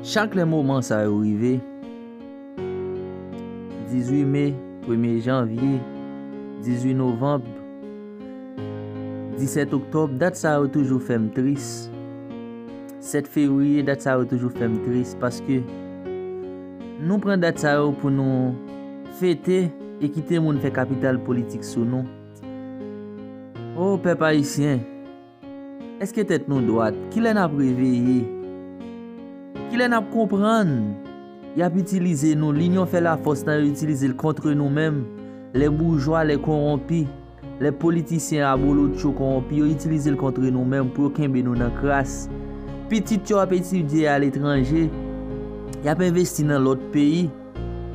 Chak lè moman sa yo rive, 18 me, premye janvye, 18 novanb, 17 oktòb, dat sa yo toujou fè m tris. 7 fevriye, dat sa yo toujou fè m tris paske nou pran dat sa yo pou nou fete e kite moun fè kapital politik sou nou. O pèp ayisyen! Eske tèt nou dwat? Kilè nap reveye? Kilè nap konprann? Yap itilize nou, linyon fè lafòs nan yo itilize l kontre nou menm, lè boujwa, lè konwonpi, lè politisyen abolotcho konwonpi yo itilize l kontre nou menm pou yo kenbe nou nan kras. Pitit yo ap etidye aletranje, yap envesti nan lòt peyi,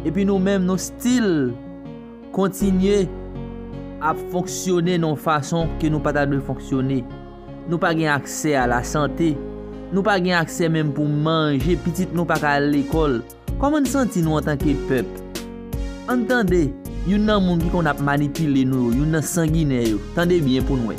epi nou menm nou still. Kontinye ap fonksyone nan yon fason ke nou pa ta dwe fonksyone. Nou pa gen aksè a la sante. Nou pa gen aksè menm pou manje, pitit nou pa ka al lekòl. Kòman n santi nou antanke pèp? An n tande youn nan moun ki konn ap manipile nou yo, youn nan sanginè yo. Tande byen pou n wè.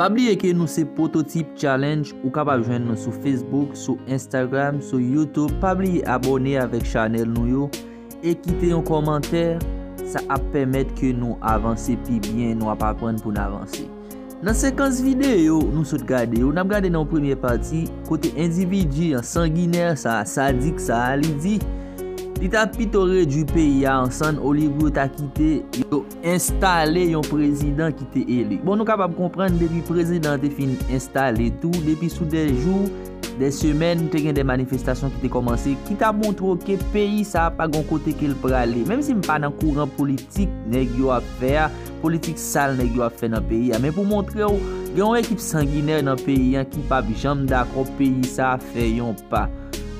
Pa bliye ke nou se Pwototip Challenge ou kapab jwenn nou sou Facebook, sou Instagram, sou YouTube pa bliye abòne avèk chanèl nou yo e kite yon kòmantè sa ap pèmèt ke nou avanse pi byen nou ap aprann pou n avanse. Nan sekans videyo nou sot gade yo, n ap gade nan yon premye pati kote endividi an sanginè sa a, sadik sa a, li di li ta pito redui peyi a an sann olye pou yo ta kite yo enstale yon prezidan ki te eli. Bon nou kapab konprann depi prezidan an te fin enstale tou, depi sou de jou, de semèn te gen de manifestasyon ki te kòmanse ki ta montre w ke peyi sa a pa gen yon kote ke l prale. Menm si m pa nan kouran politik nèg yo ap fè a, politik sal nèg yo ap fè nan peyi a men pou montre w gen yon ekip sanginè nan peyi an ki pap janm dakò peyi sa fè yon pa.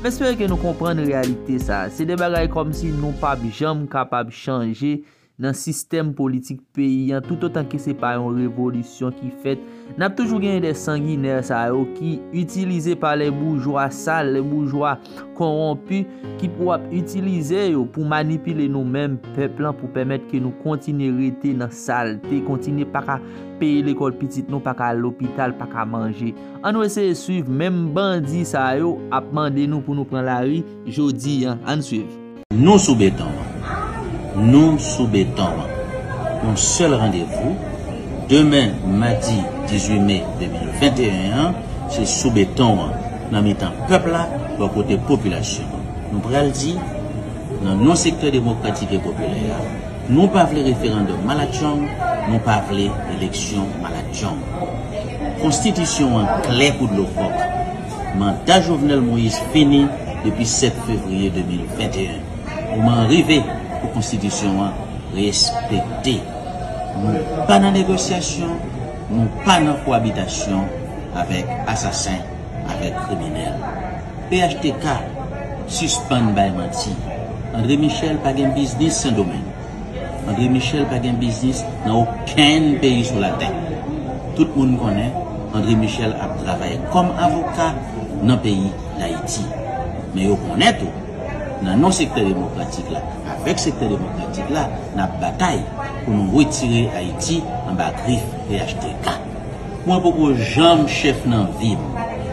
M espere ke nou konprann reyalite sa. Se de bagay kòmsi nou pap janm kapab chanje nan sistèm politik peyi an toutotan ke se pa yon revolisyon ki fèt. N ap toujou genyen de sanginè sa yo ki itilize pa lè boujwa sal, lè boujwa. konwonpi ki pou ap itilize yo pou manipile nou menm pèp lan pou pèmèt ke nou kontinye rete nan salte, kontinye pa ka peye lekòl pitit nou, pa ka al lopital, pa ka manje. An nou eseye swiv menm bandi sa yo ap mande nou pou nou pran lari jodi an. An n swiv. Nou sou beton an. Nou sou beton an. Yon sèl randevou, demen madi 18 me 2021 an, se sou beton an, nan mitan pèp la, bò kote popilasyon an. Nou pral di, nan non sektè demokratik e popilè a, nou pa vle referandòm malatchong, nou pa vle eleksyon malatchong. Konstitisyon an klè kou dlo kòk. Manda Jovenel Moïse fini depi 7 fevriye 2021. Moman an rive pou konstitisyon an respekte. Nou pa nan negosyasyon, nou pa nan koabitasyon avèk asasen, avèk kriminèl. Phtk sispann bay manti. André Michel pa gen biznis Sendomeng. Andre Michel pa gen biznis nan okenn peyi sou latè. Tout moun konnen Andre Michel ap travay kòm avoka nan peyi Dayiti. Men yo konnen tou, nan non sektè demokratik la, avèk sektè demokratik la, n ap batay pou nou wetire Ayiti anba grif phtk. Mwen poko janm chèf nan vim.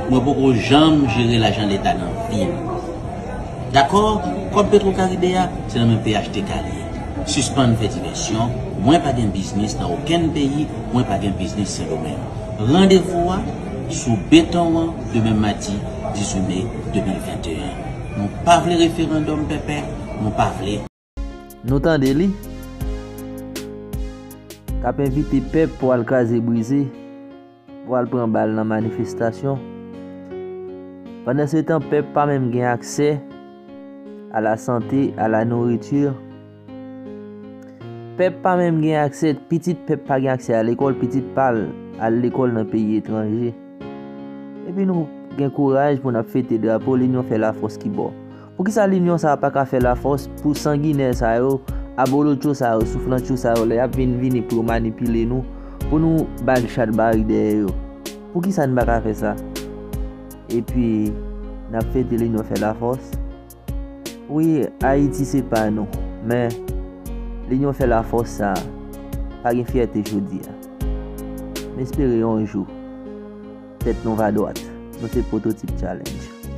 Mwen poko janm jere lajan leta nan vim. Dakò, kòb petro karibe a, se nan men phtk li ye. Sispann fè divèsyon, mwen pa gen biznis nan okenn peyi, mwen pa gen biznis sendomeng. Randevou a, sou beton an demen madi 18 me 2021. Nou pa vle referandòm pèpè, nou pa vle. Nou tande li k ap envite pèp pou al kraze brize, pou al pran bal nan manifestasyon. Pandansetan pèp pa menm gen aksè a la sante, a la nouriti. Pèp pa menm gen aksè, pitit pèp pa gen aksè a lekòl, pitit pa al a lekòl nan peyi etranje. Epi nou gen kouraj pou n ap fete drapo linyon fè lafòs ki bon. Poukisa linyon sa paka fè la fòs pou sanginè sa yo, abolotcho sa yo, souflantcho sa yo lè yap vin vini pou yo manipile nou, pou nou bay chat bari dèyè yo. Poukisa nou paka fè sa? Epi nap fete linyon fè la fòs? Wi Ayiti se pa nou, men linyon fè la fòs sa pa gen fyète jodi a. M espere yon jou tèt nou va dwat. Nou se pwototip challenge.